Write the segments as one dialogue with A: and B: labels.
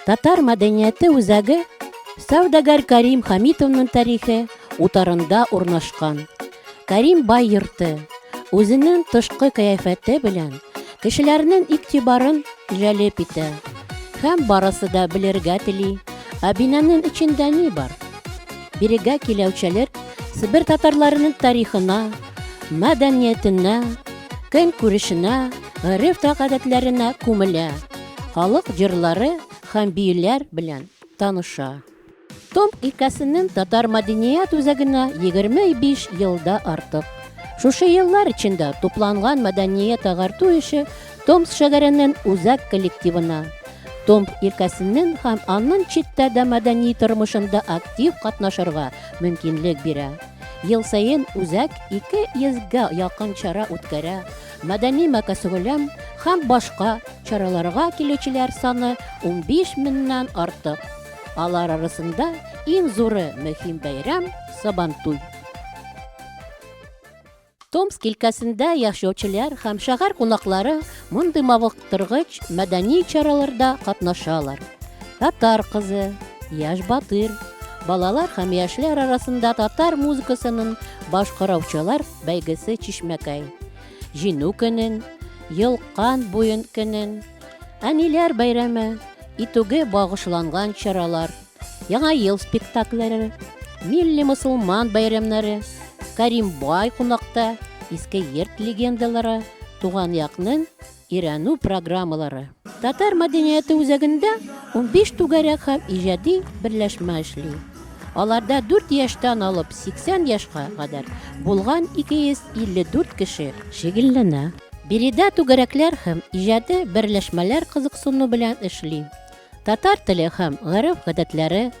A: Татар мәдәнияте үзәге сәүдәгәр Карим Хамитовның тарихы утарында урнашкан. Карим бай йорты, үзенең тышкы кыяфәте белән кешеләрнең игътибарын җәлеп итә. Һәм барысы да белергә тели, ә бинанын эчендә ни бар? Бирегә киләүчеләр Себер татарларының тарихына, мәдәниятенә, көн күрешенә, гореф-гадәтләренә күмелә. халык җырлары һәм биюләр белән таныша. Том өлкәсенең татар мәдәният үзәгенә 25 елда артык. Шушы еллар эчендә тупланган мәдәният агарту эше Томс шәһәренең үзәк коллективына, Томп өлкәсенең һәм аннан читтә дә мәдәни тормышында актив катнашырга мөмкинлек бирә. Ел саен үзәк 200 га якын чара үткәрә, Мәдәни мәкәсгөләм һәм башка чараларга килүчеләр саны унбиш меңнән артык. Алар арасында иң зуры мөһим бәйрәм, Сабантуй. Томск өлкәсендә яшәүчеләр һәм шәһәр кунаклары мондый мавык арттыргыч мәдәни чараларда катнашалар. Татар кызы, Яш батыр, балалар һәм яшьләр арасында татар музыкасының башкараучылар бәйгесе Чишмәкәй. Җиңү көнен, Елкан буен көнен, Әниләр бәйрәме итүгә багышланган чаралар Яңа ел спектакльләре, милли мусулман бәйрәмнәре, Каримбай кунакта, иске йорт легендалары, туган якның өйрәнү программалары. Татар мәдәнияте үзәгендә 15 түгәрәк һәм иҗади берләшмә эшли. Аларда 4 яшьтән алып 80 яшька кадәр булган 254 кеше шөгыльләнә. Биредә түгәрәкләр һәм иҗади берләшмәләр кызыксыну белән эшли. Татар теле һәм гореф-гадәтләре,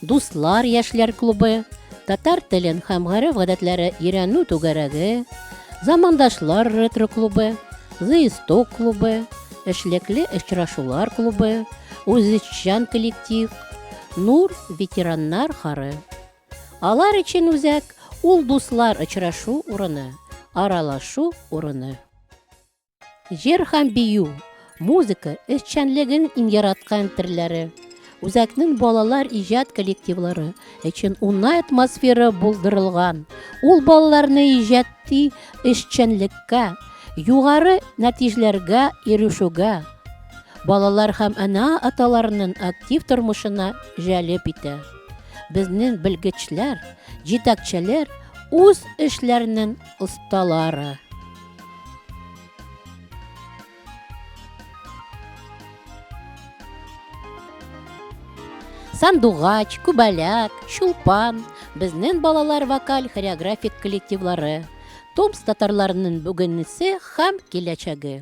A: Дуслар яшьләр клубы, Татар телен һәм гореф-гадәтләре өйрәнү түгәрәге, Замандашлар ретро клубы, Зыисток клубы, Эшлекле очрашулар клубы, Үзешчан коллектив, Нур ветераннар хары. Алар өчен үзәк ул дуслар очрашу урыны, аралашу урыны. Җыр һәм бию, музыка эшчәнлеген иң яраткан төрләре. Үзәкнең балалар иҗат коллективлары өчен унай атмосфера булдырылган. Ул балаларны иҗатти эшчәнлеккә, югары нәтиҗләргә ирешүгә, балалар һәм ана-аталарның актив тормышына җәлеп итә. Безнең белгечләр, җитәкчеләр үз эшләренең осталары. Сандугач, Күбәләк, Чулпан, безнен балалар вокаль хореографик коллективлары, Томс татарларының бүгенесе һәм киләчәге.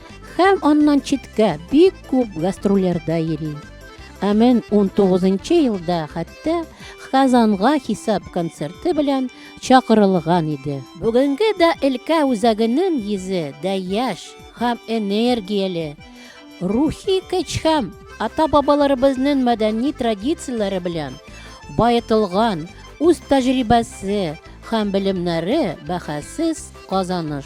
A: Һәм аннан читкә бик күп гастрольләрдә йөри. Ә мен 19 елда хәтта Казанга хисап концерты белән чакырылган иде. Бүгенге дә өлкә үзәгенең йөзе дә яшь һәм энергияле. Рухи көч һәм ата-бабаларыбызның мәдәни традицияләре белән баетылган үз тәҗрибәсе һәм белемнәре бәхәссез казаныш.